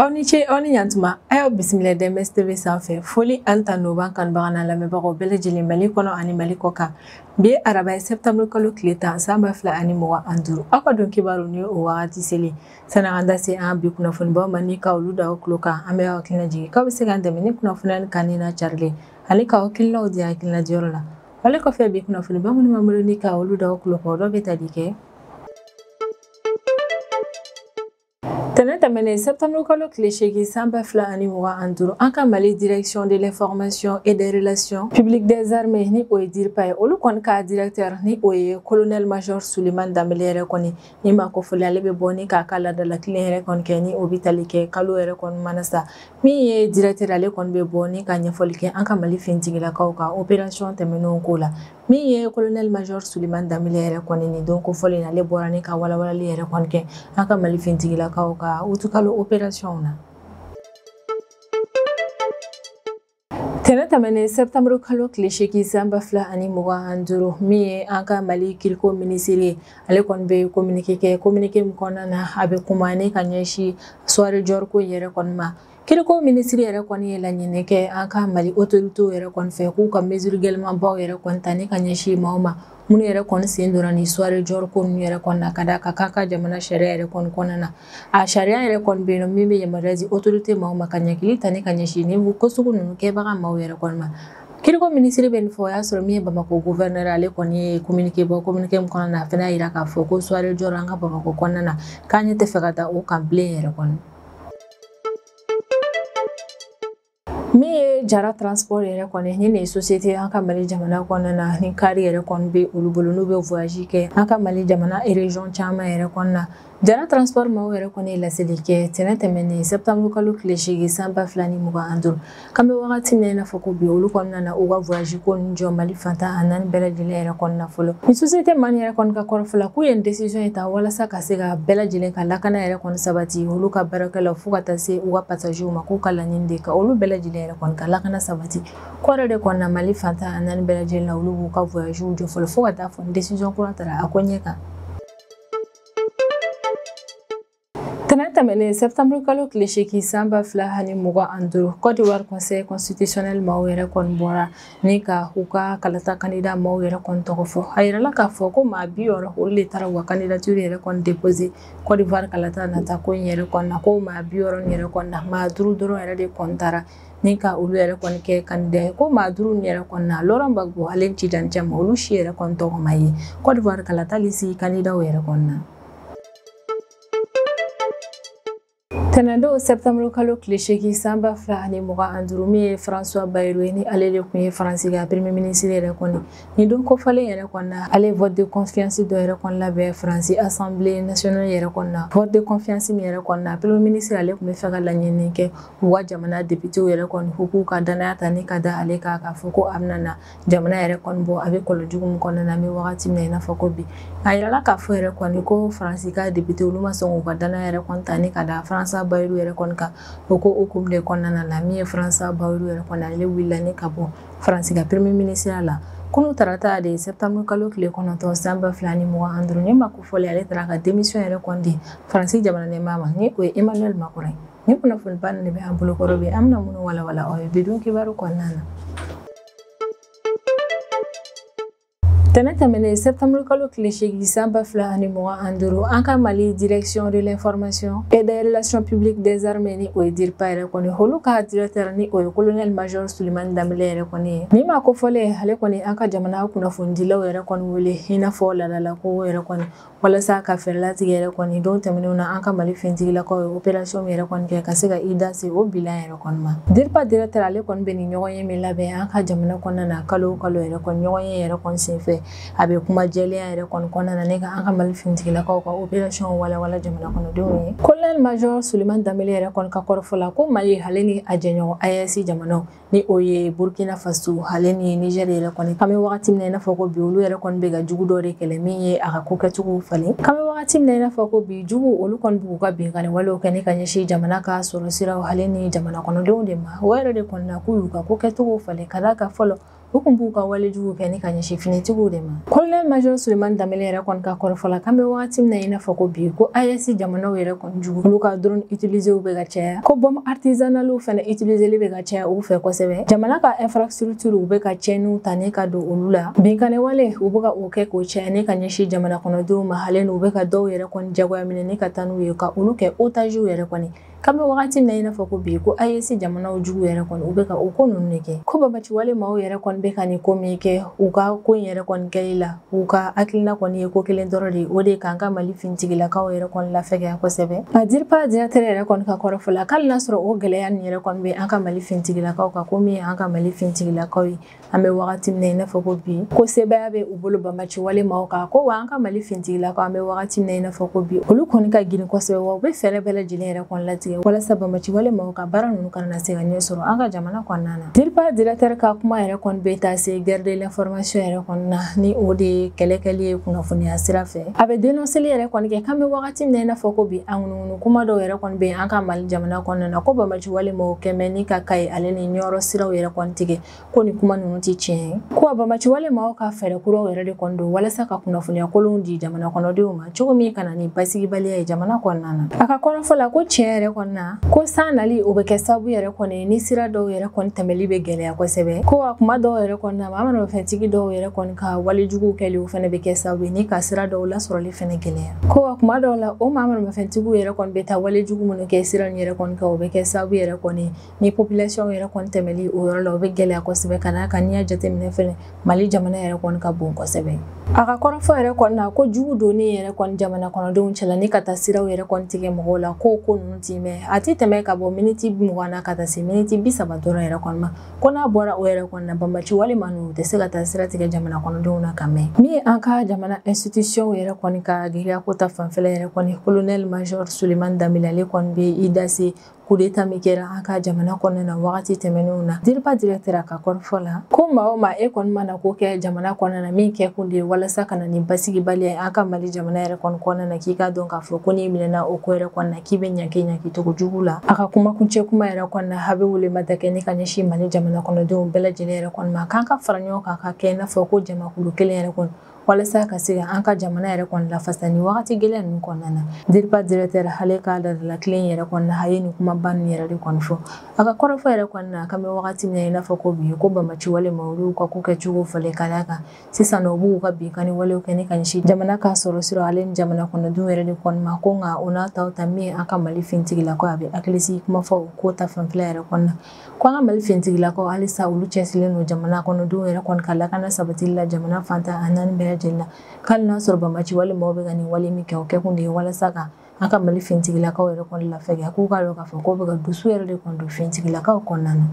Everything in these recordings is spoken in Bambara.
aw ni ce aw ni ɲantuma an y'aw bisimila dms tv sanfɛ foli ani tanu b'an kanubaga n'an lamɛnbagaw bɛɛ lajɛlen mali kɔnɔ ani mali kɔ kan bi ye araba ye sɛptanburu kalo tile tan san ba fila ani mugan an duuru aw ka don kibaru ni o wagati selen san'an k'an da se an ka bi kunnafonibaw ma ni ka olu da aw tulo kan an bɛ aw hakilina jigin k'aw bɛ se k'an dɛmɛ ni kunnafoniya ni kanuni n'a carilen ani k'aw hakilinaw di hakilina diyɔrɔ la wale kɔfɛ bi kunnafoni ba minnu b'an bolo ni ka olu d'aw kulo kan dɔ bɛ tali kɛ tɛnɛ tɛmɛnen septembre kalo tile seegin san ba fila ani mugan ani duuru an ka mali direction de l'information et des relations publiques des armées ni o ye diripa ye olu kɔni ka directeur ni o ye colonel major suleman danbele yɛrɛ kɔni nin maa kofɔlen ale bɛ bɔ ni k'a ka laadala kilen yɛrɛ kɔni kɛ ni o bɛ tali kɛ kalo yɛrɛ kɔni mana sa min ye directeur ale kɔni bɛ bɔ ni ka ɲɛfɔli kɛ an ka mali finitigilakaw ka opération tɛmɛnenw ko la min ye kolonɛli majɔr suleman danbele yɛrɛ kɔni nin don kofɔlen na ale bɔra ni ka walawalali yɛrɛ kɔni kɛ an ka mali finitigilakaw ka utukalo opérationw na tɛnɛ tɛmɛnen sɛptanburu kalo tile seegin san ba fila ani mugan ani duuru min ye an ka mali kiiriko minisiri ye ale kɔni bɛ kominike kɛ kominike min kɔnɔna na a bɛ kuma ni ka ɲɛsi soirée dior ko yɛrɛ kɔni ma kiiriko minisiri yɛrɛ kɔni ye laɲini kɛ an ka mali otoritew yɛrɛ kɔni fɛ k'u ka mesure gɛlɛmanbaw yɛrɛ kɔni ta ni ka ɲɛsi maaw ma minnu yɛrɛ kɔni sen donna nin soirée dior ko ninnu yɛrɛ kɔni na ka da a kan k'an ka jamana sariya yɛrɛ kɔni kɔnɔna na a sariya yɛrɛ kɔni bɛ yen nɔ min bɛ yamaruya di autorité maaw ma ka ɲangili ta ni ka ɲɛsin nin ko sugu ninnu kɛbaga maaw yɛrɛ kɔni ma kiiriko minisiri bɛ nin fɔ o y'a sɔrɔ min ye bamakɔ gouverneur ale kɔni ye communiqué bɔ communiqué min kɔnɔna na a fana y'a jira k'a fɔ ko soirée dior an ka bamakɔ kɔnɔna na k'an ɲɛ t'a fɛ ka da o kan bilen yɛrɛ kɔni min ye jara transport yɛrɛ kɔni ni nin ye société an ka mali jamana kɔnɔna na ni kari yɛrɛ kɔni bɛ olu bolo n'u bɛ voyage kɛ an ka mali jamana région caman yɛrɛ kɔnɔna na jara transport maaw yɛrɛ kɔni ye laseli kɛ tɛnɛ tɛmɛnen septembre kalo tile seegin san ba fila ni mugan an duuru k'an bɛ wagati min na i n'a fɔ ko bi olu kɔni nana u ka voyage ko nin jɔ mali fan tan ani naani bɛɛ lajɛlen yɛrɛ kɔnɔna fɔlɔ nin société maa nin yɛrɛ kɔni ka kɔrɔfɔ la k'u ye nin décision in ta walasa ka se ka bɛɛ lajɛlen ka lakana yɛrɛ kɔni sabati olu ka baarakɛlaw fo ka taa se u ka pasaziw ma k'u ka laɲini de ka olu bɛɛ lajɛlen yɛrɛ kɔni ka lakana sabati k'o yɛrɛ de kɔnɔna mali fan tan ani naani bɛɛ lajɛlen na olu b'u ka voyagew jɔ fɔlɔ fo ka taa fɔ ni desizɔn kura tara a ko ɲɛ kan tɛnɛ tɛmɛnen sɛptanburu kalo tile seegin san ba fila ani mugan ani duuru kɔdiwari conseil constitutionnel maaw yɛrɛ kɔni bɔra ni ka u ka kalata kandida maaw yɛrɛ kɔni tɔgɔ fɔ a yirala k'a fɔ ko maa bi wɔɔrɔ olu de taara u ka kandidatiri yɛrɛ kɔni depose Kɔdiwari kalata nata ko in yɛrɛ kɔni na ko maa bi wɔɔrɔ yɛrɛ kɔni na maa duuru dɔrɔn yɛrɛ de kɔni tara ni ka olu yɛrɛ kɔni kɛ kandida ye ko maa duuru yɛrɛ kɔni na laurent gbagbo ale ni tidjane thiam olu si yɛrɛ kɔni tɔgɔ ma ye Kɔdiwari kalata lisi kandidaw yɛrɛ kɔni na tɛnɛndon sɛptamuru kalo tile seegin san ba fila ani mugan ni duuru min ye françois bayrou ye ni ale de tun ye faransi ka premier minisiri yɛrɛ kɔni nin don kofɔlen yɛrɛ kɔni na ale ye vote de confiance dɔ yɛrɛ kɔni labɛn faransi assemblée nationale yɛrɛ kɔni na vote de confiance min yɛrɛ kɔni na premier minisiri ale tun bɛ fɛ ka laɲini kɛ u ka jamana depitew yɛrɛ kɔni ko k'u ka dannaya ta ni ka da ale kan k'a fɔ ko a bɛna na jamana yɛrɛ kɔni bɔ a bɛ kɔlɔn jugu min kɔnɔna na an bɛ wagati min na i n'a fɔ ko bi a yirala k'a fɔ yɛrɛ kɔni ko faransi ka depite olu ma sɔn k'u ka dannaya yɛrɛ kɔni ta ni ka da françois bayrou yɛrɛ kɔni kan o ko hukumu de kɔnɔna na min ye françois bayrou yɛrɛ kɔni ale wulila ni ka bɔ faransi ka premier minisiriya la kunu tarata de septembre kalo tile kɔnɔntɔn san ba fila ni mugan ni duuru nin maa kofɔlen ale taara ka démission yɛrɛ kɔni di faransi jamana ɲɛmaa ma ni o ye emmanuel macron ye Ni kunnafoniba nin de bɛ an bolokɔrɔ bi an bɛna minnu walawala aw ye bi don kibaru kɔnɔna na tɛnɛn tɛmɛnen septembre kalo tile seegin san ba fila ani mugan ni duuru an ka mali direction de l'information et des relations publiques des armées ni o ye DIRPA yɛrɛ kɔni olu ka directeur ni o ye colonel major souleymane dembélé yɛrɛ kɔni ye nin maa kofɔlen ale kɔni an ka jamana kunnafonidilaw yɛrɛ kɔni wele i n'a fɔ laadalako yɛrɛ kɔni walasa ka fɛɛrɛlatigɛ yɛrɛ kɔni don tɛmɛnenw na an ka mali fintigilakaw ye operasiyɔn min yɛrɛ kɔni kɛ ka se ka i da se o bilan yɛrɛ kɔni ma DIRPA directeur ale kɔni bɛ nin ɲɔgɔnye min labɛn an ka jamana kɔnɔna na kalo kalo yɛrɛ kɔni ɲɔgɔnye yɛrɛ kɔni senfɛ a bɛ kuma jɛlenya yɛrɛ kɔni kɔnɔna na ne ka an ka mali fintigilakaw ka operasiyɔn walawala jamana kɔnɔdenw ye kolonɛli majɔ souleymane dembélé yɛrɛ kɔni ka kɔrɔfɔ la ko mali ale ni a jɛɲɔgɔn AES jamanaw ni o ye burkina faso ale ni niger yɛrɛ kɔni k'an bɛ wagati min na i n'a fɔ ko bi olu yɛrɛ kɔni bɛ ka jugu dɔ de kɛlɛ min ye a ka ko kɛcogow falen k'an bɛ wagati min na i n'a fɔ ko bi jugu olu kɔni b'u ka binkani walew kɛ ne ka ɲɛsin jamana ka sɔrɔ siraw ale ni jamana kɔnɔdenw de ma o yɛrɛ de kɔni na k'u y'u ka ko kɛcogow falen ka d'a kan fɔlɔ u kun b'u ka walejugu kɛ ni ka ɲɛsin finitigiw de ma kolonɛli major souleymane dembélé yɛrɛ kɔni ka kɔrɔfɔ la k'an bɛ wagati min na i n'a fɔ ko bi ko AES jamanaw yɛrɛ jugu olu ka drone utilisew bɛ ka caya ko bombe artisanalew fana utiliseli bɛ ka caya u fɛ kosɛbɛ jamana ka infrastructure u bɛ ka cɛnniw ta ne ka don olu la binkani wale u bɛ ka o kɛ k'o caya ne ka ɲɛsin jamana kɔnɔdenw ma hali n'u bɛ ka dɔw yɛrɛ kɔni jagoya minɛ ne ka taa n'u ye ka olu kɛ otagew yɛrɛ kɔni k'an bɛ wagati min na i n'a fɔ ko bi ko AES jamanaw jugu yɛrɛ kɔni u bɛ ka o ko ninnu de kɛ ko banbaanciwale maaw yɛrɛ kɔni bɛ ka nin ko min kɛ u ka ko in yɛrɛ kɔni kɛli la u ka hakilina kɔni ye ko kelen dɔrɔn de ye o de k'an ka mali fintigilakaw yɛrɛ kɔni lafɛgɛya kosɛbɛ a DIRPA directeur yɛrɛ kɔni ka kɔrɔfɔ la k'ali n'a sɔrɔ o gɛlɛya nin yɛrɛ kɔni bɛ an ka mali fintigilakaw kan ko min ye an ka mali fintigilakaw ye an bɛ wagati min na i n'a fɔ ko bi ko sebaya bɛ u bolo banbaaci wale maaw kan ko wa an ka mali fintigilakaw an bɛ wagati min na i n'a fɔ ko bi olu kɔni ka girin kosɛbɛ wa u bɛ fɛɛrɛ bɛɛ lajɛlen yɛrɛ kɔni latigɛ walasa banbaaci wale maaw ka baara ninnu kana se ka ɲɛ sɔrɔ an ka jamana kɔnɔna na DIRPA directeur ka kuma yɛrɛ kɔni bɛ taa se guerre de l'information yɛrɛ kɔni na ni o de ye kɛlɛkɛli ye kunnafoniya sira fɛ a bɛ dénoncéli yɛrɛ kɔni kɛ k'an bɛ wagati min na i n'a fɔ ko bi an ŋunuŋunu kuma dɔw yɛrɛ kɔni bɛ an ka mali jamana kɔnɔna na ko banbaaci wale maaw kɛmɛ ni ka Kayi ale ni Ɲɔrɔ siraw yɛrɛ kɔni tigɛ ko nin kuma ninnu tɛ tiɲɛ ye ko banbaaci wale maaw ka fɛɛrɛkuraw yɛrɛ de kɔni don walasa ka kunnafoniya kolonw di jamana kɔnɔdenw ma cogo min ka na ni basigibaliya ye jamana kɔnɔna na a ka kɔrɔfɔ la ko tiɲɛ yɛrɛ kɔni na ko san nali o bɛ kɛ sababu yɛrɛ kɔni ni sira dɔw yɛrɛ kɔni tɛmɛli bɛ gɛlɛya kosɛbɛ ko a kuma dɔw yɛrɛ kɔni na maa manamafɛntigi dɔw yɛrɛ kɔni ka wale juguw kɛli o fana bɛ kɛ sababu ye ni ka sira dɔw lasɔrɔli fana gɛlɛya ko a kuma dɔw la o maa manamafɛntigiw yɛrɛ kɔni bɛ taa wale jugu minnu kɛ sira nin yɛrɛ kɔni kan o bɛ kɛ sababu yɛrɛ kɔni Ni population yɛrɛ kɔni tɛmɛli o yɔrɔ la o bɛ gɛlɛya kosɛbɛ ka d'a kan n'i y'a jateminɛ fana Mali jamana yɛrɛ kɔni ka bon kosɛbɛ. A ka kɔrɔfɔ yɛrɛ kɔni na ko jugu donni yɛrɛ kɔni jamana kɔnɔdenw cɛla ni ka taa siraw yɛrɛ kɔni tigɛ mɔgɔw la k'o ko ninnu tɛ mɛn a tɛ tɛmɛ ka bɔ miniti mugan na ka taa se miniti bi saba dɔrɔn yɛrɛ kɔni ma ko n'a bɔra o yɛrɛ kɔni na banbaaci wale maa ninnu u tɛ se ka taa sira tigɛ jamana kɔnɔdenw na ka mɛn min ye an ka jamana institution yɛrɛ kɔni ka gɛlɛya ko ta fanfɛla yɛrɛ kɔni colonel major Sulemani Danbele ale kɔni bɛ i da se kudeta min kɛra an ka jamana kɔnɔna na wagati tɛmɛnenw na DIRPA directeur a ka kɔrɔfɔ la ko maa o maa e kɔni mana ko kɛ jamana kɔnɔna na min kɛ kun de ye walasa ka na ni basigibaliya ye an ka mali jamana yɛrɛ kɔni kɔnɔna na k'i k'a dɔn k'a fɔ ko n'i minɛna o ko yɛrɛ kɔni na k'i bɛ ɲanki ɲanki cogo jugu la a ka kumakuncɛ kuma yɛrɛ kɔni na a bɛ welema da kɛ ni ka ɲɛsin mali jamana kɔnɔdenw bɛɛ lajɛlen yɛrɛ kɔni ma k'an ka fara ɲɔgɔn kan ka kɛ i n'a fɔ ko jamakulu kelen yɛrɛ kɔni walasa ka se ka an ka jamana yɛrɛ kɔni lafasa ni wagati gɛlɛn ninnu kɔnɔna na DIRPA directeur ale ka darila tilen yɛrɛ kɔni na a ye nin kumaba ninnu yɛrɛ de kɔni fɔ a ka kɔrɔfɔ yɛrɛ kɔni na k'an bɛ wagati min na i n'a fɔ ko bi ko banbaaci wale maaw olu ka ko kɛcogo falen ka d'a kan sisan nɔ u b'u ka binkanni walew kɛ ni ka ɲɛsin jamana ka sɔrɔ sira ale ni jamana kɔnɔdenw yɛrɛ de kɔni ma ko nka o n'a ta o ta min ye an ka mali fintigilakaw a bɛ hakilisigi kuma fɔ o ko ta fanfɛla yɛrɛ kɔni na Ko an ka Mali finitigilakaw halisa olu cɛsirilen don jamana kɔnɔdenw yɛrɛ kɔni ka lakana sabatili la jamana fan tan ni naani bɛɛ lajɛlen na, ko hali n'a y'a sɔrɔ banbaaci wale maaw bɛ ka nin wale min kɛ, o kɛkun de ye walasa ka an ka Mali finitigilakaw yɛrɛ kɔni lafɛgɛya, k'u k'a dɔn k'a fɔ k'o bɛ ka dusu yɛrɛ de kɔni don finitigilakaw kɔnɔna na.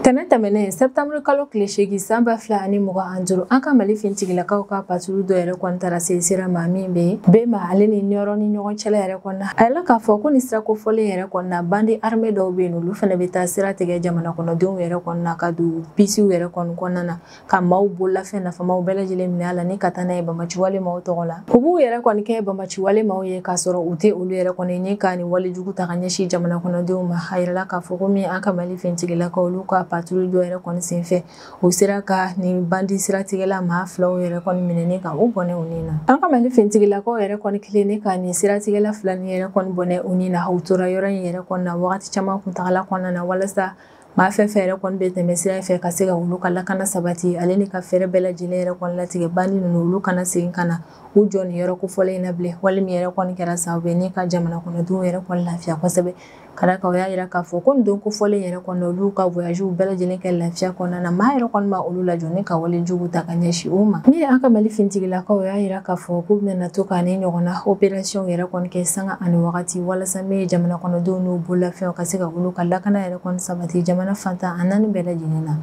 Tɛnɛn tɛmɛnen septembre kalo tile seegin san ba fila ani mugan ani duuru an ka Mali finitigilakaw ka patrouille dɔ yɛrɛ kɔni taara se sira ma min bɛ Bema ale ni Nioro ni ɲɔgɔn cɛla yɛrɛ kɔni A yirala k'a fɔ ko nin sira kofɔlen yɛrɛ kɔni na bandi armé dɔw bɛ yen olu fana bɛ taa sira tigɛ jamana kɔnɔdenw yɛrɛ kɔnɔna ka don bisiw yɛrɛ kɔni kɔnɔna na ka maaw bololafɛn nafamaw bɛɛ lajɛlen minɛ a la ni ka taa n'a ye banbaanciwale maaw tɔgɔ la u b'u yɛrɛ kɔni kɛ banbaanciwale maaw ye k'a sɔrɔ u tɛ olu yɛrɛ kɔni ni ka nin walejugu ta ka ɲɛsin jamana kɔnɔdenw ma a yirala k'a fɔ ko min an ka mali fintigilakaw olu ka patrouille dɔw yɛrɛ kɔni senfɛ u sera ka nin bandi siratigɛla maa filaw yɛrɛ kɔni minɛ ni ka u bɔnɛ u ni na an ka mali fintigilakaw yɛrɛ kɔni kɛlen ni ka nin siratigɛla fila nin yɛrɛ kɔni bɔnɛ u ni na u tora yɔrɔ in yɛrɛ kɔni na wagati caman kuntagala kɔnɔna na walasa maa fɛn fɛn yɛrɛ kɔni bɛ tɛmɛ sira fɛ ka se ka olu ka lakana sabati ale ni ka fɛɛrɛ bɛɛ lajɛlen yɛrɛ kɔni latigɛ bandi ninnu olu kana segin ka na u jɔ nin yɔrɔ kofɔlen in na bilen wale min yɛrɛ kɔni kɛra sababu ye ni ka jamana kɔnɔdenw yɛrɛ kɔni lafiya kosɛbɛ ka d'a kan u y'a yira k'a fɔ ko nin don kofɔlen yɛrɛ kɔnɔ olu ka voyagew bɛɛ lajɛlen kɛ lafiya kɔnɔna na maa yɛrɛ kɔni ma olu lajɔ ni ka wale jugu ta ka ɲɛsin u ma min ye an ka mali fintigilakaw u y'a yira k'a fɔ k'u bɛna to ka nin ɲɔgɔnna operasiyɔn yɛrɛ kɔni kɛ sanga ani wagati walasa min ye jamana kɔnɔdenw n'u bololafɛnw ka se ka olu ka lakana yɛrɛ kɔni sabati jamana fan tan ani naani bɛɛ lajɛlen na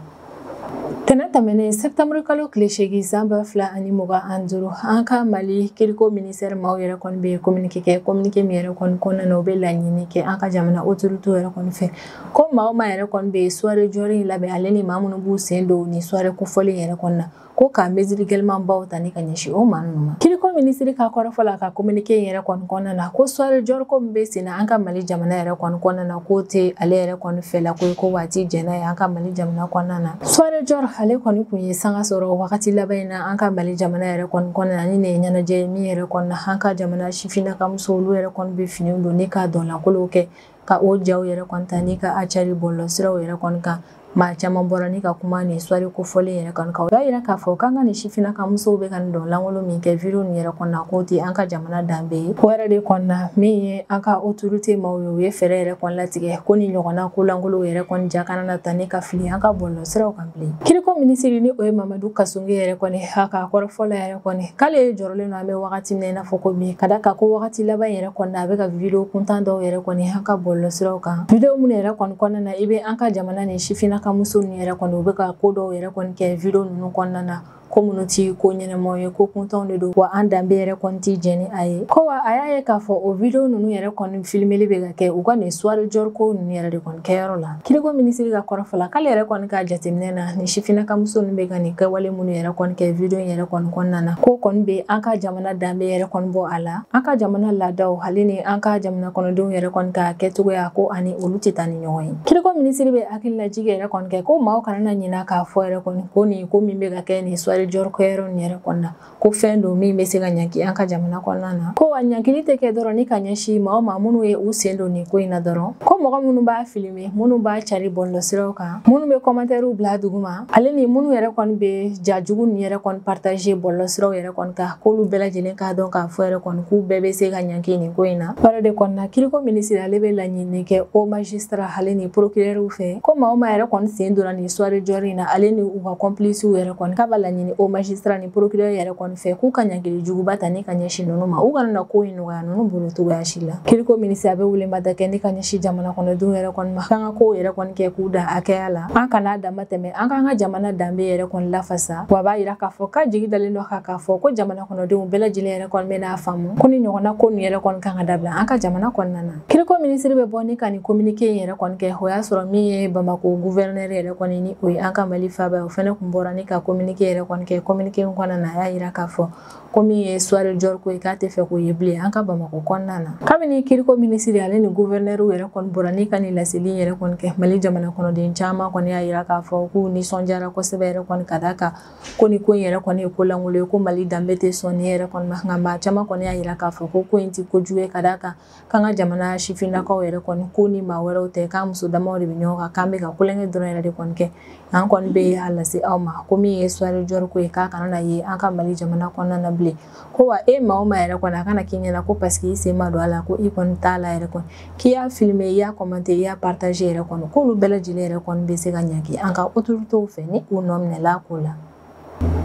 tɛnɛn tɛmɛnen sɛtanburu kalo tile seegin san ba fila ani mugan an duuru an ka mali kiriko minisitɛri maaw yɛrɛ kɔni bɛ kominike kɛ kominike min yɛrɛ kɔni kɔnɔna na u bɛ laɲini kɛ an ka jamana otorite yɛrɛ kɔni fɛ ko maa o maa yɛrɛ kɔni bɛ suware Dior in labɛn ale ni maa minnu b'u sen don nin suware kofɔlen yɛrɛ kɔnɔna na ko ka mesure gɛlɛmanbaw ta ni ka ɲɛsin o maa ninnu ma kiriko minisiri ka kɔrɔfɔ la ka kominike in yɛrɛ kɔni kɔnɔna na ko soirée Dior ko min bɛ sen na an ka mali jamana yɛrɛ kɔni kɔnɔna na k'o tɛ ale yɛrɛ kɔni fɛla ko ye ko wa a ti jɛn n'a ye an ka mali jamana kɔnɔna na soirée Dior ale kɔni kun ye sanga sɔrɔ wagati laban in na an ka mali jamana yɛrɛ kɔni kɔnɔna na nin ne ye ɲɛnajɛ ye min yɛrɛ kɔnɔna an ka jamana sifinnakamusow olu yɛrɛ kɔni bɛ finiw don ni ka dɔn lankolonw kɛ ka o jaw yɛrɛ kɔni ta ni ka a cari bɔlɔlɔsiraw yɛrɛ kɔni kan maa caman bɔra ni ka kuma nin soirée kofɔlen yɛrɛ kɔni kan u y'a yira k'a fɔ k'an ka nin sifinnakamusow bɛ ka nin dɔn lankolon min kɛ video nin yɛrɛ kɔnɔna k'o tɛ an ka jamana danbe ye o yɛrɛ de kɔnɔna min ye an ka otorite maaw ye u ye fɛɛrɛ yɛrɛ kɔni latigɛ ko nin ɲɔgɔnna ko lankolon yɛrɛ kɔni ja kana na ta ni ka fili an ka bɔlɔlɔsiraw kan Kiriko minisiri ni o ye Mamadu Kassogué yɛrɛ kɔni a ka kɔrɔfɔ la yɛrɛ kɔni k'ale ye jɔrɔlen don an bɛ wagati min na i n'a fɔ ko bi ka d'a kan ko wagati laban yɛrɛ kɔni a bɛ ka video kuntan dɔw yɛrɛ kɔni an ka bɔlɔlɔsiraw kan video minnu yɛrɛ kɔni kɔnɔna na i bɛ an ka jamana nin sifinnakamuso ninnu yɛrɛ kɔni u bɛ ka ko dɔw yɛrɛ kɔni kɛ video ninnu kɔnɔna na ko minnu ti ko ɲɛnamaw ye ko kuntanw de don wa an danbe yɛrɛ kɔni tɛ jɛn ni a ye ko wa a y'a ye k'a fɔ o video ninnu yɛrɛ kɔni filimeli bɛ ka kɛ u ka nin soirée Dior ko ninnu yɛrɛ de kɔni kɛyɔrɔ la kiriko minisiri ka kɔrɔfɔ la k'ale yɛrɛ kɔni ka jateminɛ na nin sifinnakamuso ninnu bɛ ka nin kɛwale minnu yɛrɛ kɔni kɛ video in yɛrɛ kɔni kɔnɔna na k'o kɔni bɛ an ka jamana danbe yɛrɛ kɔni bɔ a la an ka jamana laadaw hali ni an ka jamana kɔnɔdenw yɛrɛ kɔni ka kɛcogoya k'o ani olu tɛ taa ni ɲɔgɔn ye kiriko minisiri bɛ hakililajigi yɛrɛ kɔni kɛ ko maaw kana na ɲina k'a fɔ yɛrɛ kɔni ko nin ko min bɛ ka kɛ nin suware jɔri kɛyɔrɔ nin yɛrɛ kɔnɔna ko fɛn don min bɛ se ka ɲanki an ka jamana kɔnɔna na ko a ɲankili tɛ kɛ dɔrɔn ni ka ɲɛsin maaw ma minnu ye u sen don nin ko in na dɔrɔn ko mɔgɔ minnu b'a filime minnu b'a cari bɔlɔlɔsiraw kan minnu bɛ kɔmantɛriw bila duguma ale ni minnu yɛrɛ kɔni bɛ ja jugu ni yɛrɛ kɔni partager bɔlɔlɔsiraw yɛrɛ kɔni kan k'olu bɛɛ lajɛlen k'a dɔn k'a fɔ yɛrɛ kɔni k'u bɛɛ bɛ se ka ɲanki nin ko in na o yɔrɔ de kɔnɔna kiriko minisiri ale bɛ laɲini kɛ o majisitara ale ni porokirɛriw fɛ ko maa o maa yɛrɛ kɔni sen donna nin soirée jɔri in na ale ni u ka kɔnpilisiw yɛrɛ kɔni k'a b'a laɲini o majisitara ni porokirɛri yɛrɛ kɔni fɛ k'u ka ɲangili juguba ta ni ka ɲɛsin ninnu ma u kana na ko in nɔgɔya a ninnu bolo cogoya si la kiriko minisiri a bɛ weleweleda kɛ ni ka ɲɛsin jamana kɔnɔdenw yɛrɛ kɔni ma k'an ka kow yɛrɛ kɔni kɛ k'u dan hakɛya la an kana damatɛmɛ an k'an ka jamana danbe yɛrɛ kɔni lafasa wa b'a yira k'a fɔ k'a jigi dalen don a kan k'a fɔ ko jamana kɔnɔdenw bɛɛ lajɛlen yɛrɛ kɔni bɛn'a faamu ko nin ɲɔgɔnna ko nin yɛrɛ kɔni kan ka dabila an ka jamana kɔnɔna na kiriko minisiri bɛ bɔ ni ka nin kominike in yɛrɛ kɔni kɛ o y'a sɔrɔ min ye bamako guvɛrinɛri yɛrɛ kɔni ni o ye an ka mali faaba ye o fɛnɛ kun bɔra ni ka kominike yɛrɛ kɔni kɛ kominike in kɔnɔna na a y'a yira k'a fɔ ko min ye suware jɔri ko ye k'a tɛ fɛ k'o ye bilen an ka bamako kɔnɔna na kabini kiriko minisiri ale ni guvɛrinɛri yɛrɛ kɔni bɔra ni ka nin laseli yɛrɛ kɔni kɛ mali jamana kɔnɔden caman kɔni y'a yira k'a fɔ k'u nisɔndiyara kosɛbɛ yɛrɛ kɔni ka d'a kan ko nin ko in yɛrɛ kɔni ye ko lankolon ye ko mali danbe tɛ sɔn nin yɛrɛ kɔni ma nka maa caman kɔni y'a yira k'a fɔ ko ko in tɛ kojugu ye ka d'a kan k'an ka jamana sifinnakaw yɛrɛ kɔni ko ni maa wɛrɛw tɛ k'an muso damaw de bɛ ɲɔgɔn kan k'an bɛ ka tulonkɛ dɔrɔn yɛrɛ de kɔni kɛ an kɔni bɛ a lase aw ma ko min ye soirée jɔri ko ye k'a kana na ye an ka Mali jamana kɔnɔna na bilen ko wa e maa o maa yɛrɛ kɔni a kana k'i ɲɛna ko parce que i sen ma don a la ko i kɔni t'a la yɛrɛ kɔni k'i y'a filmer i y'a commenter i y'a partager yɛrɛ kɔni k'olu bɛɛ lajɛlen yɛrɛ kɔni bɛ se ka ɲangi an ka autorités fɛ ni u nɔ minɛla ko la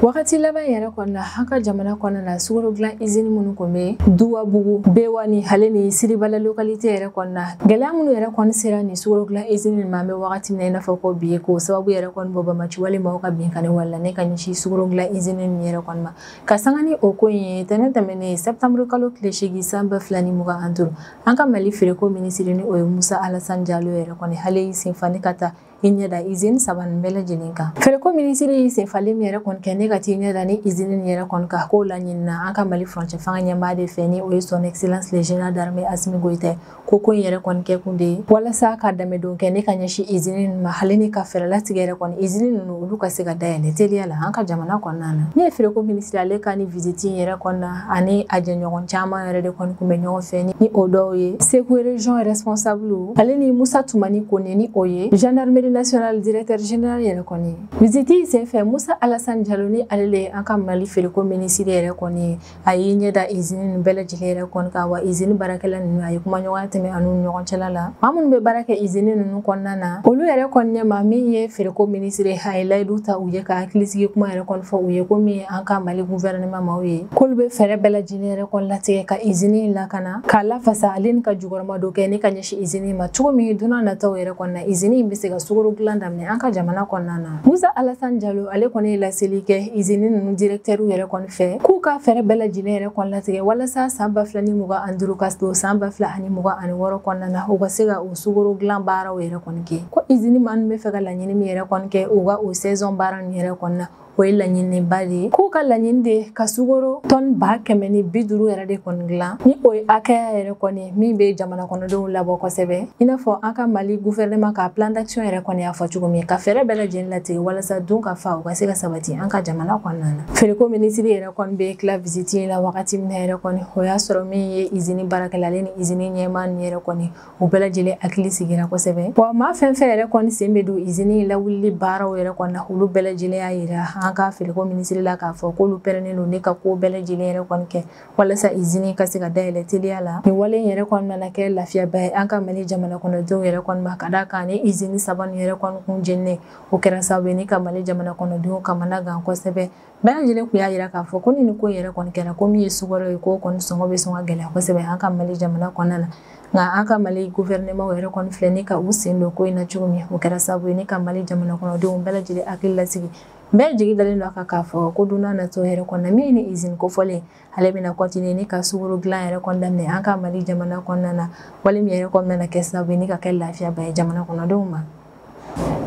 wagati laban yɛrɛ kɔnɔ la an ka jamana kɔnɔ la sukaro dilan izini minnu kun bɛ dugabugu bewani ale ni siribala lokalite yɛrɛ kɔnɔ na gɛlɛya minnu yɛrɛ kɔni sera nin sukaro dilan izini nin ma an bɛ wagati min na i n'a fɔ ko bi k'o sababu yɛrɛ kɔni bɔ banbaanci walebaaw ka binkanni wale la ni ka ɲɛsin sukaro dilan izini nin yɛrɛ kɔni ma ka sanga ni o ko in ye ntɛnɛn tɛmɛnen sɛptanburu kalo tile seegin san ba fila ni mugan ani duuru an ka mali feereko minisiri ni o ye musa alasan jalo yɛrɛ kɔni ale y'i senfa ni ka taa i ɲɛda izini saba nin bɛɛ lajɛlen kan feereko minisiri y'i senfalen min yɛrɛ kɔni kɛ ni ka t'i ɲɛda ni izini nin yɛrɛ kɔni kan k'o laɲinina an ka mali furancɛ fanga ɲɛmaa de fɛ ni o ye son excellence le général d'armée asimi goyita ko ko in yɛrɛ kɔni kɛ kun de ye walasa ka dɛmɛdon kɛ ni ka ɲɛsin izini nin ma ale ni ka fɛɛrɛ latigɛ yɛrɛ kɔni izini ninnu olu ka se ka dayɛlɛ teliya la an ka jamana kɔnɔna na ne ye feereko minisiri ale ka nin visiti yɛrɛ kɔnɔna ani a jɛɲɔgɔn caman yɛrɛ de kɔni kun bɛ ɲɔgɔn fɛ ni o dɔw ye segu region responsable ale ni musa tumani kone ni o ye gendarmerie nationale directeur général yɛrɛ kɔni visiti sen fɛ musa alasani jalo ni ale le an ka mali feereko minisiri yɛrɛ kɔni a y'i ɲɛ da izini nin bɛɛ lajɛlen yɛrɛ kɔni kan wa izini baarakɛla ninnu a ye kumaɲɔgɔnya tɛmɛ a n'u ɲɔgɔn cɛla la maa minnu bɛ baara kɛ izini ninnu kɔnɔna na olu yɛrɛ kɔni ɲɛma min ye feereko minisiri a ye layidu ta u ye ka hakilisigi kuma yɛrɛ kɔni fɔ u ye ko min ye an ka mali guvɛrɛnɛman maaw ye k'olu bɛ fɛɛrɛ bɛɛ lajɛlen yɛrɛ kɔni latigɛ ka izini in lakana k'a lafasa ale ni ka jukɔrɔmadon kɛ ni ka ɲɛsin izini in ma cogo min don nataw yɛrɛ kɔnɔna izini in bɛ se ka sukoro dilan daminɛ an ka jamana kɔnɔna na musa alasan jalo ale kɔni ye laseli kɛ izini ninnu direktɛriw yɛrɛ kɔni fɛ k'u ka fɛɛrɛ bɛɛ lajɛlen yɛrɛ kɔni latigɛ walasa san ba fila ni mugan ani duuru ka don san ba fila ani mugan ani wɔɔrɔ kɔnɔna na u ka se ka o sukoro dilan baaraw yɛrɛ kɔni kɛ ko izini maaw bɛ fɛ ka laɲini min yɛrɛ kɔni kɛ u ka o saison baara nin yɛrɛ kɔnɔna o ye laɲininba de ye k'u ka laɲini de ka sukoro tɔni ba kɛmɛ ni bi duuru yɛrɛ de kɔni dilan ni o ye hakɛya yɛrɛ kɔni min bɛ jamana kɔnɔdenw labɔ kosɛbɛ i n'a fɔ an ka mali guvɛrɛnɛma ka plan d'action yɛrɛ kɔni y'a fɔ cogo min ka fɛɛrɛ bɛɛ lajɛlen latigɛ walasa dunkafa o ka se ka sabati an ka jamana kɔnɔna na feereko minisiri yɛrɛ kɔni bɛ tila visiti la wagati min yɛrɛ kɔni o y'a sɔrɔ min ye izini baarakɛla ale ni izini ɲɛmaa nin yɛrɛ kɔni u bɛɛ lajɛlen hakili sigira kosɛbɛ wa maa fɛn fɛn yɛrɛ kɔni sen bɛ don izini lawulili baaraw yɛrɛ kɔni na olu bɛɛ lajɛlen y'a yira an ka feereko minisiri la k'a fɔ k'olu pɛrɛnnen don ni ka ko bɛɛ lajɛlen yɛrɛ kɔni kɛ walasa izini ka se ka dayɛlɛ teliya la nin wale in yɛrɛ kɔni nana kɛ lafiyaba ye an ka mali jamana kɔnɔdenw yɛrɛ kɔni ma ka d'a kan ni izini saba nin yɛrɛ kɔni kun jeninnen o kɛra sababu ye ni ka mali jamana kɔnɔdenw kamana gan kosɛbɛ bɛɛ lajɛlen kun y'a yira k'a fɔ ko ni nin ko in yɛrɛ kɔni kɛra ko min ye sukaro ye k'o kɔni sɔngɔ bɛ sɔn ka gɛlɛya kosɛbɛ an ka mali jamana kɔnɔna na nka an ka mali guvɛrɛnɛmaw yɛrɛ kɔni filɛ ni ka u sen don ko in na cogo min o kɛra sababu ye ni ka mali jamana kɔnɔdenw bɛɛ lajɛlen hakili lasigi bɛɛ jigi dalen don a kan k'a fɔ ko don nataw yɛrɛ kɔnɔna min ye nin izini kofɔlen ale bɛna continuer ni ka sukoro dilan yɛrɛ kɔni daminɛ an ka mali jamana kɔnɔna na wale min yɛrɛ kɔni nana kɛ sababu ye ni ka kɛ lafiyaba ye jamana kɔnɔdenw ma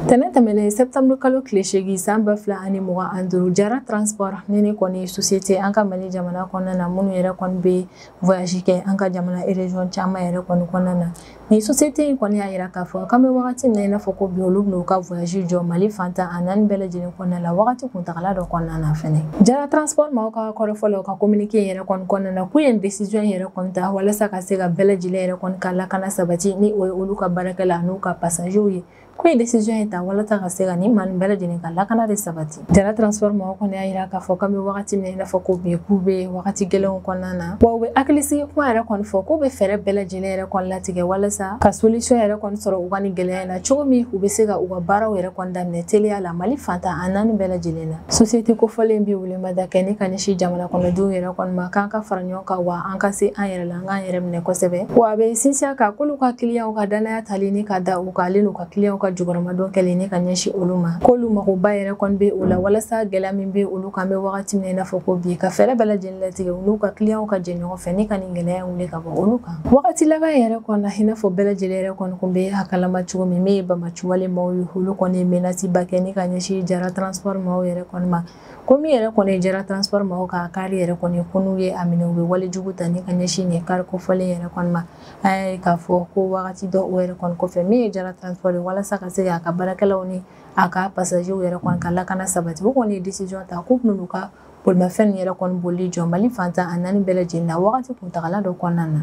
tɛnɛ tɛmɛnen sɛtanburu kalo tile seegin san ba fila ani mugan ani duuru jara transport ni nin kɔni sosiyete an ka mali jamana kɔnɔna na minnu yɛrɛ kɔni bɛ voyage kɛ an ka jamana erezon caman yɛrɛ kɔni kɔnɔna na nin sosiyete in kɔni y'a yira k'a fɔ k'an bɛ wagati min na i n'a fɔ ko bi olu bɛn'u ka voyage jɔ mali fan tan ani naani bɛɛ lajɛlen kɔnɔna la wagati kuntagala dɔ kɔnɔna na fɛnɛ jara transport maaw ka kɔrɔfɔ la u ka communiqué in yɛrɛ kɔni kɔnɔna na k'u ye décision in yɛrɛ kɔni ta walasa ka se ka bɛɛ lajɛlen yɛrɛ kɔni ka lakana sabati ni o ye olu ka baarakɛla n'u ka passagew ye ko ye décision ye ta walasa ka se ka nin maa nin bɛɛ lajɛlen ka lakana de sabati jara transport mɔgɔ kɔni y'a yira k'a fɔ k'an bɛ wagati min na i n'a fɔ ko bi k'u bɛ wagati gɛlɛnw kɔnɔna na wa u bɛ hakilisigi kuma yɛrɛ kɔni fɔ k'u bɛ fɛɛrɛ bɛɛ lajɛlen yɛrɛ kɔni latigɛ walasa ka solution yɛrɛ kɔni sɔrɔ u ka nin gɛlɛya in na cogo min u bɛ se ka u ka baaraw yɛrɛ kɔni daminɛ teliya la mali fan tan a naani bɛɛ lajɛlen na société kofɔlen bɛ welemada kɛ ni ka ɲɛsin jamana kɔnɔdenw yɛrɛ kɔni ma k'an ka fara ɲɔgɔn kan wa an ka se an yɛrɛ la An k'an yɛrɛ minɛ kosɛbɛ wa a bɛ sinsin a kan k'olu ka kiliyanw ka danaya tali ni ka da u kan ale n'u ka kiliyanw ka jukɔrɔmadon kɛli ni ka ɲɛsin olu ma k'olu magoba yɛrɛ kɔni bɛ o la walasa gɛlɛya min bɛ olu kan bɛ wagati min na i n'a fɔ ko bi ka fɛɛrɛ bɛɛ lajɛlen latigɛ u n'u ka kiliyanw ka jɛ ɲɔgɔn fɛ ni ka nin gɛlɛya wuli ka bɔ olu kan wagati laban yɛrɛ kɔnɔna i n'a fɔ bɛɛ lajɛlen yɛrɛ kɔni kun bɛ a kalama cogo min min ye banbaanciwale maaw ye olu kɔni ye menace ba kɛ ni ka ɲɛsin jara transport maaw yɛrɛ kɔni ma ko min yɛrɛ kɔni ye jara transport mɔgɔw ka kari yɛrɛ kɔni ko n'u ye a minɛ u bɛ wale jugu ta ni ka ɲɛsin nin kari kofɔlen yɛrɛ kɔni ma an y'a ye k'a fɔ ko wagati dɔ o yɛrɛ kɔni kɔfɛ min ye jara transport ye walasa ka se k'a ka baarakɛlaw ni a ka pasajew yɛrɛ kɔni ka lakana sabati u kɔni ye décision ta k'u bɛna u ka bolimafɛn yɛrɛ kɔni boli jɔ mali fan tan a naani bɛɛ lajɛlen na wagati kuntagala dɔ kɔnɔna na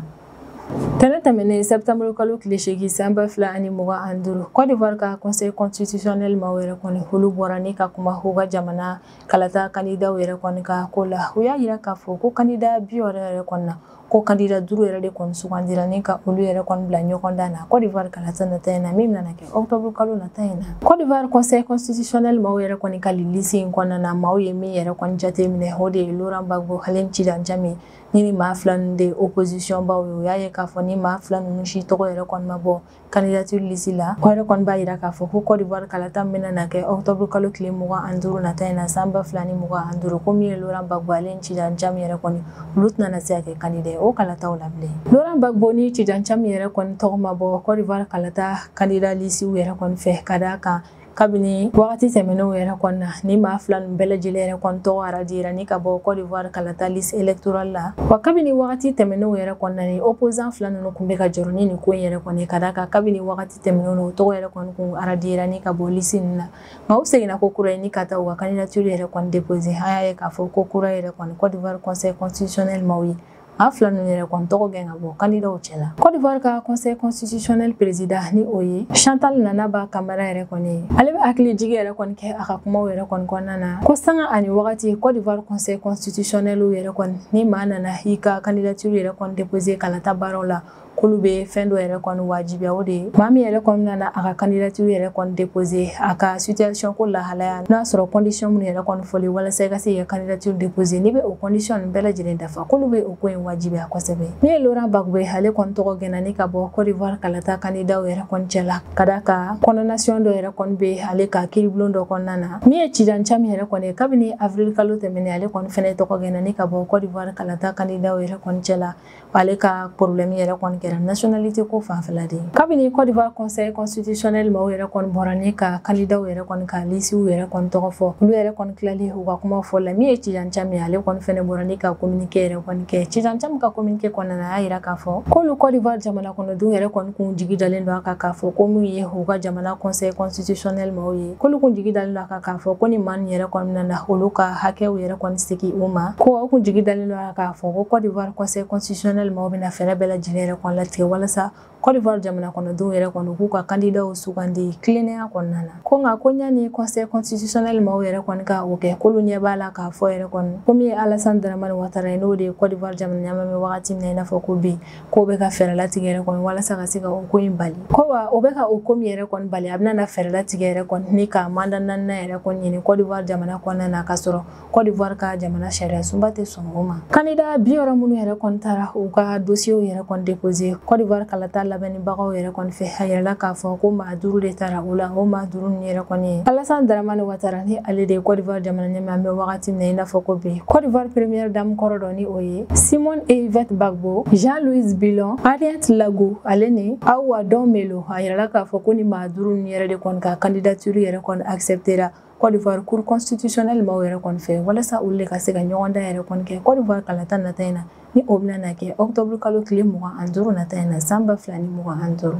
Tɛnɛ tɛmɛnen septembre kalo tile seegin san ba fila ani mugan ani duuru Côte d'Ivoire ka conseil constitutionnel maaw yɛrɛ kɔni olu bɔra ni ka kuma u ka jamana kalata kandidaw yɛrɛ kɔni ka ko la u y'a yira k'a fɔ ko kandida bi wɔɔrɔ yɛrɛ kɔni na ko kandida duuru yɛrɛ de kɔni sugandira ni ka olu yɛrɛ kɔni bila ɲɔgɔn dan na Côte d'Ivoire kalata nata in na min bɛna na kɛ octobre kalo nata in na Côte d'Ivoire conseil constitutionnel maaw yɛrɛ kɔni ka lisi in kɔnɔna na maaw ye min yɛrɛ kɔni jate minɛ o de ye Laurent Gbagbo ale ni Tidjane Thiam nin maa fila ninnu de opposition baw ye u y'a ye k'a fɔ nin maa fila ninnu si tɔgɔ yɛrɛ kɔni ma bɔ candidature lisi la o yɛrɛ kɔni b'a yira k'a fɔ ko côte d'ivoire kalata min bɛna na kɛ octobre kalo tile mugan ani duuru nata in na san ba fila ni mugan ani duuru ko min ye laurent gbagbo ale ni tidjane thiam yɛrɛ kɔni olu tɛna na se ka kɛ kandida ye o kalataw la bilen laurent gbagbo ni tidjane thiam yɛrɛ kɔni tɔgɔ ma bɔ côte d'ivoire kalata kandida lisiw yɛrɛ kɔni fɛ ka d'a kan kabini wagati tɛmɛnenw yɛrɛ kɔnɔna na nin maa fila nin bɛɛ lajɛlen yɛrɛ kɔni tɔgɔ aradira ni ka bɔ côte d'ivoire kalata liste électorale la wa kabini wagati tɛmɛnenw yɛrɛ kɔnɔna nin opposant fila ninnu kun bɛ ka jɔrɔ ni nin ko in yɛrɛ kɔni ka d'a kan kabini wagati tɛmɛnenw na u tɔgɔ yɛrɛ kɔni kun aradira ni ka bɔ liste nin na nka u seginna ko kura ye ni ka taa u ka candidature yɛrɛ kɔni déposer an y'a ye k'a fɔ ko kura yɛrɛ kɔni côte d'ivoire conseil constitutionnel maaw ye A fila ninnu yɛrɛ kɔni tɔgɔ gɛn ka bɔ kandidaw cɛ la Côte d'Ivoire ka conseil constitutionnel président ni o ye Chantal Nanaba Camara yɛrɛ kɔni ye ale bɛ hakili jigi yɛrɛ kɔni kɛ a ka kumaw yɛrɛ kɔni kɔnɔna na ko sanga ani wagati Côte d'Ivoire conseil constitutionnel yɛrɛ kɔni ni maa nana i ka candidature yɛrɛ kɔni déposer kalata baaraw la k'olu bɛ fɛn dɔ yɛrɛ kɔni wajibiya o de ye maa min yɛrɛ kɔni nana a ka kandidatiri yɛrɛ kɔni depose a ka situation ko lahalaya n'a sɔrɔ condition minnu yɛrɛ kɔni fɔli walasa i ka se k'i ka kandidatiri depose n'i bɛ o condition ninnu bɛɛ lajɛlen dafa k'olu bɛ o ko in wajibiya kosɛbɛ min ye Laurent Gbagbo ye ale kɔni tɔgɔ gɛnna ni ka bɔ Côte d'Ivoire kalata kandidaw yɛrɛ kɔni cɛla ka d'a kan condamnation dɔ yɛrɛ kɔni bɛ ale kan kiiribulon dɔ kɔnɔna na min ye Tidjane Thiam yɛrɛ kɔni ye kabini avril kalo tɛmɛnen ale kɔni fɛnɛ tɔgɔ gɛnna ni ka bɔ Côte d'Ivoire kalata kandidaw yɛrɛ kɔni cɛla ale ka problème yɛrɛ kɔni kɛra nationalité ko fanfɛla de ye kabini Côte d'Ivoire conseil constitutionnel maaw yɛrɛ kɔni bɔra ni ka kandidaw yɛrɛ kɔni ka lisiw yɛrɛ kɔni tɔgɔ fɔ olu yɛrɛ kɔni tilalen u ka kuma fɔ la min ye Tidjane Thiam ye ale kɔni fɛnɛ bɔra ni ka communiqué yɛrɛ kɔni kɛ Tidjane Thiam ka communiqué kɔnɔna na a y'a yira k'a fɔ k'olu Côte d'Ivoire jamana kɔnɔdenw yɛrɛ kɔni kun jigi dalen don a kan k'a fɔ ko min ye u ka jamana conseil constitutionnel maaw ye k'olu kun jigi dalen don a kan k'a fɔ ko ni maa nin yɛrɛ kɔni nana olu ka hakɛw yɛrɛ kɔni segin u ma ko u kun jigi dalen don A kan k'a fɔ ko Côte d'Ivoire Conseil constitutionnel maaw bɛna fɛɛrɛ bɛɛ lajɛlen yɛrɛ kɔni latigɛ walasa Côte d'Ivoire jamana kɔnɔdenw yɛrɛ kɔni k'u ka kandidaw sugandi tilennenya kɔnɔna na ko nka ko yani Conseil constitutionnel maaw yɛrɛ kɔni ka o kɛ k'olu ɲɛ b'a la k'a fɔ yɛrɛ kɔni ko min ye Alassane Dramane Ouattara ye n'o de ye Côte d'Ivoire jamana ɲɛmaa an bɛ wagati min na i n'a fɔ ko bi k'o bɛ ka fɛɛrɛ latigɛ yɛrɛ kɔni walasa ka se ka o ko in bali ko wa o bɛ ka o ko min yɛrɛ kɔni bali a bɛna na fɛɛrɛ latigɛ yɛrɛ kɔni ni ka mandat naaninan yɛrɛ kɔni ɲini Côte d'Ivoire jamana kɔnɔna na k'a sɔrɔ Kɔdiwari ka jamana sariya sunba tɛ sɔn o ma kandida biwɔɔrɔ minnu yɛrɛ kɔni taara u ka dosiyew yɛrɛ kɔni depose Kɔdiwari kalata labɛnnibagaw yɛrɛ kɔni fɛ a yirala k'a fɔ ko maa duuru de tara u la o maa duuru ninnu yɛrɛ kɔni ye Alassane Dramane Ouattara ni ale de ye Kɔdiwari jamana ɲɛmaa an bɛ wagati min na i n'a fɔ ko bi Kɔdiwari première dame kɔrɔ dɔ ni o ye Simone Ehivet Gbagbo Jean-Louis Billon Henriette Lagou ale ni Ahoua Don Mello a yirala k'a fɔ ko ni maa duuru ninnu yɛrɛ de kɔni ka kandidatiri yɛrɛ kɔni asɛpte Kɔdiwari cour constitutionnelle maaw yɛrɛ kɔni fɛ walasa olu de ka se ka ɲɔgɔndan yɛrɛ kɔni kɛ kɔdiwari kalata nata in na ni o bɛna na kɛ octobre kalo tile mugan ani duuru nata in na san ba fila ni mugan ani duuru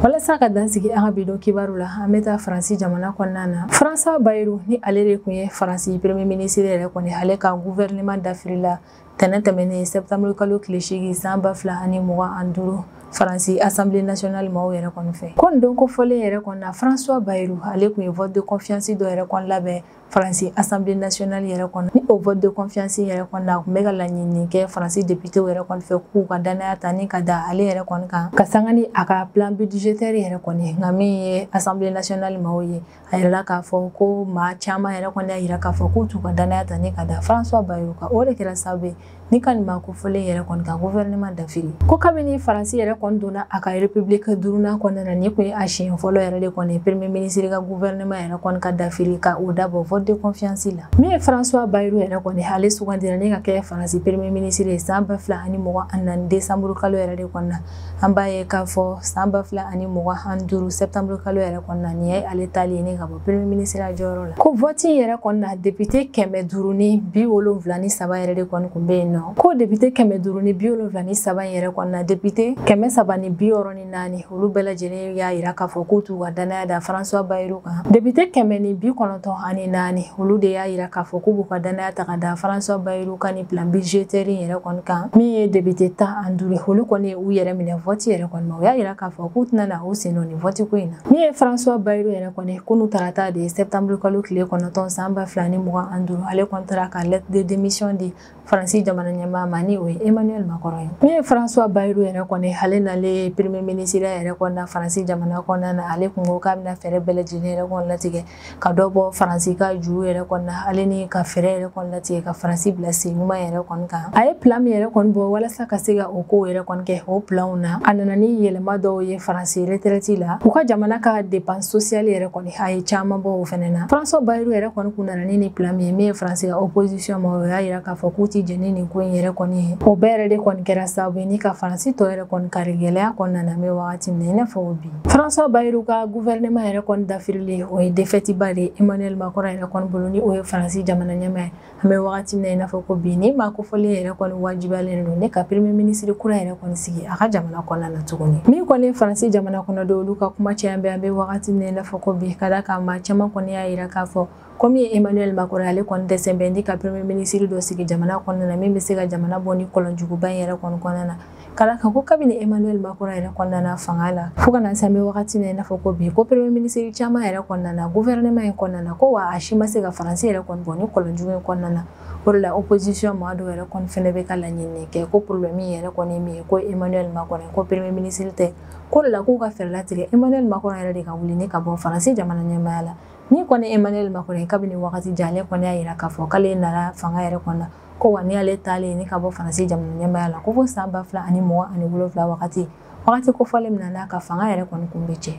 walasa ka dan sigi an ka bi don kibaru la an bɛ taa faransi jamana kɔnɔna na François Bayrou ni ale de kun ye faransi premier ministre yɛrɛ kɔni ale ka gouvernement dafirila tɛnɛn tɛmɛnen septembre kalo tile seegin san ba fila ani mugan ani duuru faransi assemblée nationale maaw yɛrɛ kɔni fɛ ko nin don kofɔlen yɛrɛ kɔni na françois bayrou ale kun ye vote de confiance dɔ yɛrɛ kɔni labɛn faransi assemblée nationale yɛrɛ kɔnɔ ni o vote de confiance yɛrɛ kɔni na a kun bɛ ka laɲini kɛ faransi député yɛrɛ kɔni fɛ k'u ka dannaya ta ni ka da ale yɛrɛ kɔni kan ka sanga ni a ka plan budgétaire yɛrɛ kɔni nka min ye assemblée nationale maaw ye a yirala k'a fɔ ko maa caman yɛrɛ kɔni y'a yira k'a fɔ k'u t'u ka danaya ta ni ka da françois bayrou kan o de kɛra sababu ye ni ka nin maa kofɔlen yɛrɛ kɔni ka gouvernement dafiri ko kabini faransi yɛrɛ kɔni donna a ka république duurunan kɔnɔna na nin kun ye a siɲɛ fɔlɔ yɛrɛ de kɔni premier minisiri ka gouvernement yɛrɛ kɔni ka dafiri ka o dabɔ vote de confiance la min ye françois bayrou yɛrɛ kɔni ale sugandira ni ka kɛ faransi premier minisiri ye san ba fila ani mugan ani naani desanburu kalo yɛrɛ de kɔnɔna an b'a ye k'a fɔ san ba fila ani mugan ani duuru septembre kalo yɛrɛ kɔnɔna nin ye ale taali ye ni ka bɔ premier minisiriya jɔyɔrɔ la ko vɔti yɛrɛ kɔnɔna depite kɛmɛ duuru ni bi wolonfila ni saba yɛrɛ de kɔni kun be yen nɔ ko depite kɛmɛ duuru ni bi wolonfila ni saba yɛrɛ kɔnɔna depite kɛmɛ saba ni bi wɔɔrɔ ni naani olu bɛɛ lajɛlen y'a yira k'a fɔ k'u t'u ka dannaya da françois bayrou kan depite kɛmɛ ni bi kɔnɔntɔn ani naani olu de y'a yira k'a fɔ k'u b'u ka dannaya ta ka da françois bayrou kan plan budgétaire yɛrɛ kɔni kan min ye depite tan ani duuru olu kɔni ye u yɛrɛ minɛ vɔti yɛrɛ kɔni ma u y'a yira k'a fɔ k'u tɛna na u sen don nin vɔti ko in na min ye françois bayrou yɛrɛ kɔni kunu tarata de septembre kalo tile kɔnɔntɔn san ba fila ni mugan ani duuru ale kɔni taara ka lettre de démission di faransi jamana ɲɛmaa ma ni o ye emmanuel macron ye min ye françois bayrou yɛrɛ kɔni ale nalen premier minisiriya yɛrɛ kɔni na faransi jamana kɔnɔna na ale kun ko k'a bɛna fɛɛrɛ bɛɛ lajɛlen yɛrɛ kɔni latigɛ ka dɔ bɔ faransi ka juru yɛrɛ kɔni na ale ni ka fɛɛrɛ yɛrɛ kɔni latigɛ ka faransi bila sen ɲuman yɛrɛ kɔni kan a ye pilan min yɛrɛ kɔni bɔ walasa ka se ka o kow yɛrɛ kɔni kɛ o pilanw na a nana ni yɛlɛma dɔw ye faransi retraite la u ka jamana ka dépense sociale yɛrɛ kɔni a ye caman bɔ o fɛnɛ na françois bayrou yɛrɛ kɔni kun nana ni nin pilan min ye min ye faransi ka opposition maaw y'a yira k'a fɔ k'u ti jɛn ni nin ko in yɛrɛ kɔni ye o bɛɛ yɛrɛ de kɔni kɛra sababu ye ni ka faransi tɔ yɛrɛ kɔni kari gɛlɛya kɔnɔna na an bɛ wagati min na i n'a fɔ bi François Bayrou ka gouvernement yɛrɛ kɔni dafirilen o ye défaite ba de ye Emmanuel Macron yɛrɛ kɔni bolo ni o ye Faransi jamana ɲɛmaa ye an bɛ wagati min na i n'a fɔ ko bi nin maa kofɔlen yɛrɛ kɔni wajibiyalen don ni ka premier ministre kura yɛrɛ kɔni sigi a ka jamana kɔnɔna na tuguni min kɔni ye Faransi jamana kɔnɔdenw olu ka kuma caya bɛ an bɛ wagati min na i n'a fɔ ko bi ka d'a kan maa caman kɔni y'a yira k'a fɔ ko min ye emmanuel macron ale kɔni dɛsɛ bɛ ni ka premier minisiri dɔ sigi jamana kɔnɔna na min bɛ se ka jamana bɔ nin kɔlɔnjuguba in yɛrɛ kɔni kɔnɔna na ka d'a kan ko kabini emmanuel macron yɛrɛ kɔni nana fanga la fo ka na se an bɛ wagati min na i n'a fɔ ko bi ko premier minisiri caman yɛrɛ kɔni nana gouvernement in kɔnɔna na ko wa a si ma se ka faransi yɛrɛ kɔni bɔ nin kɔlɔnjugu in kɔnɔna na o de la opposition maa dɔw yɛrɛ kɔni fɛnɛ bɛ ka laɲini kɛ ko problème yɛrɛ kɔni min ye ko emmanuel macron ko premier ministre tɛ ko o de la k'u ka fɛɛrɛ latigɛ emmanuel macron yɛrɛ de ka wuli ni ka bɔ faransi jamana ɲɛmaaya la Min kɔni emmanuel macron kabini waati jan ale kɔni y'a yira k'a fɔ k'ale nana fanga yɛrɛ kɔnɔ ko wa n'ale taalen ni ka bɔ faransi jamana ɲɛmaaya la ko fo san ba fila ani mugan ani wolonfila wagati wagati kofɔlen min na n'a ka fanga yɛrɛ kɔni kun bɛ cɛ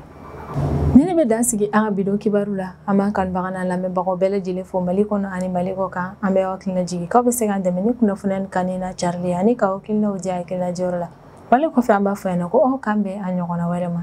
nin de bɛ dan sigi an ka bi don kibaru la an b'an kanubaga lamɛnbagaw bɛɛ lajɛlen fo mali kɔnɔ ani mali kɔ kan an bɛ aw hakili jigin aw bɛ se k'an dɛmɛ ni kunnafoni ka ne na carilen ani k'aw hakilinaw di kɛnɛjɛyɔrɔ la wali kɔfɛ an b'a fɔ yan na ko an k'an bɛn a ɲɔgɔnna wɛrɛ ma